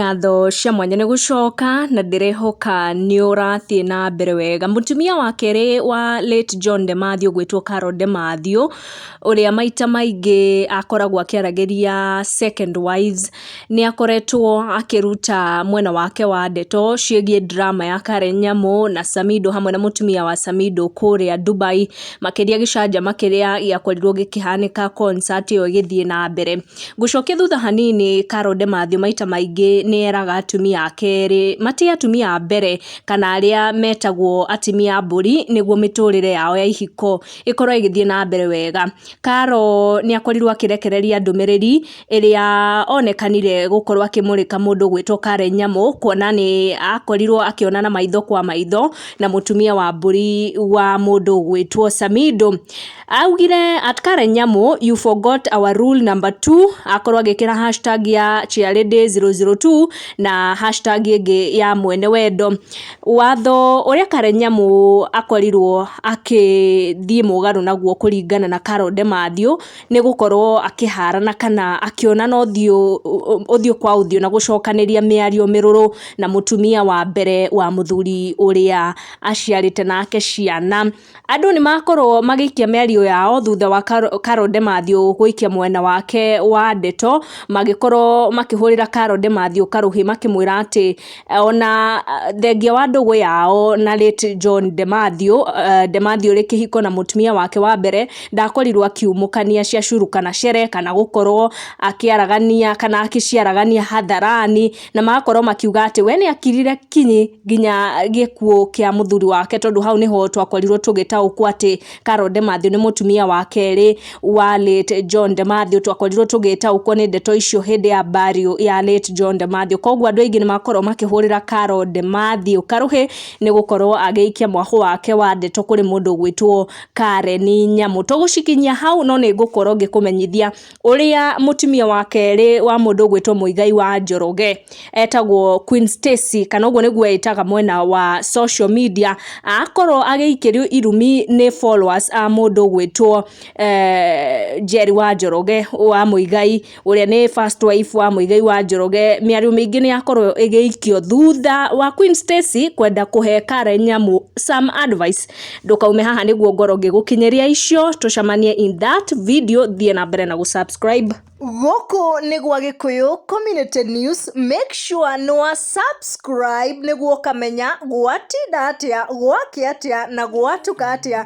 Ngatho cia mwanya nĩ gũcoka, na ndĩrehoka nĩ ũrathiĩ na mbere wega. Mũtumia wa kerĩ wa late John de Matthew ũgwĩtwo Carol de Matthew, ũrĩa maita maingĩ akoragwo akĩaragĩria second wives, nĩ akoretwo akĩruta mwena wake wa ndeto ciĩgiĩ drama ya Karen Nyamu na Samido hamwe na mũtumia wa Samido kũrĩa Dubai, makĩria gĩcanjama kĩrĩa gĩakorirwo gĩkĩhanĩka concert ĩyo ĩgĩthiĩ na mbere. Gũcokia thutha hanini, Carol DeMathew maita maingĩ nĩ eraga atumia a kerĩ matĩe atumia a mbere kana arĩa metagwo atimia a mbũri nĩguo mĩtũrĩre yao ya ihiko ĩkorwo ĩgĩthiĩ na mbere wega. Carol nĩ akorirwo akĩrekereria ndũmĩrĩri ĩrĩa onekanire gũkorwo akĩmũrĩka mũndũ ũgwĩtwo Karen Nyamu kuona nĩ akorirwo akĩonana maitho kwa maitho na mũtumia wa mbũri wa mũndũ ũgwĩtwo Samido. Augire at Karen Nyamu you forgot our rule number 2 akorwo agĩkĩra hashtag ya Chiarĩ Day 002 na hashtag ĩngĩ ya mwene wendo. Watho ũrĩa Karen Nyamu akorirwo akĩthiĩ mũgarũ naguo kũringana na Carol Demathew nĩ gũkorwo akĩharana kana akĩonana ũthiũ ũthiũ kwa ũthiũ na gũcokanĩria mĩario mĩrũrũ na mũtumia wa mbere wa mũthuri ũrĩa aciarĩte nake ciana. Andũ nĩ makorwo magĩikia mĩario yao thutha wa Carol Demathew gũikia mwena wake wa ndeto, magĩkorwo makĩhũrĩra Carol Demathew karũhĩ makĩmwĩra atĩ ona thengia wa ndũgũ yao na late John Demathew, Demathew ũrĩ kĩhiko na mũtumia wake wa mbere, ndakorirwo akiumũkania ciacurũ kana cere kana gũkorwo akĩaragania kana agĩciaragania hatharani. na magakorwo makiuga atĩ we nĩ akirire kinyi nginya gĩkuũ kĩa mũthuri wake tondũ hau nĩho twakorirwo tũgĩtaũkwo atĩ Carol Demathew nĩ mũtumia wa kerĩ wa late John Demathew twakorirwo tũgĩtaũkwo nĩ ndeto icio hĩndĩ ya burial ya late John Demathew koguo andũ aingĩ nĩ makorwo makĩhũrĩra Carol Demathew karũhĩ nĩ gũkorwo agĩikia mwahũ wake wa ndeto kũrĩ mũndũ ũgwĩtwo Karen Nyamu tũgũcikinyia hau no nĩ ngũkorwo ngĩkũmenyithia ũrĩa mũtumia wa kerĩ wa mũndũ ũgwĩtwo Mũigai wa Njoroge etagwo Queen Stacy kana ũguo nĩguo eyĩtaga mwena wa social media, akorwo agĩikĩrio irumi nĩ followers a mũndũ ũgwĩtwo Njeri wa Njoroge wa Mũigai, ũrĩa nĩ first wife wa Mũigai wa Njoroge. Mĩario mĩingĩ nĩ yakorwo ĩgĩikio thutha wa Queen Stacy kwenda kũhe Karen Nyamu some advice. ndũkaume haha nĩguo ngoro ngĩgũkinyĩria icio tũcamanie in that video thiĩ na mbere na gũsubscribe gũkũ nĩ gwa gĩkũyũ community news make sure nĩ wa subscribe nĩguo ũkamenya gwatinda atĩa gwakĩ atĩa na gwatuka atĩa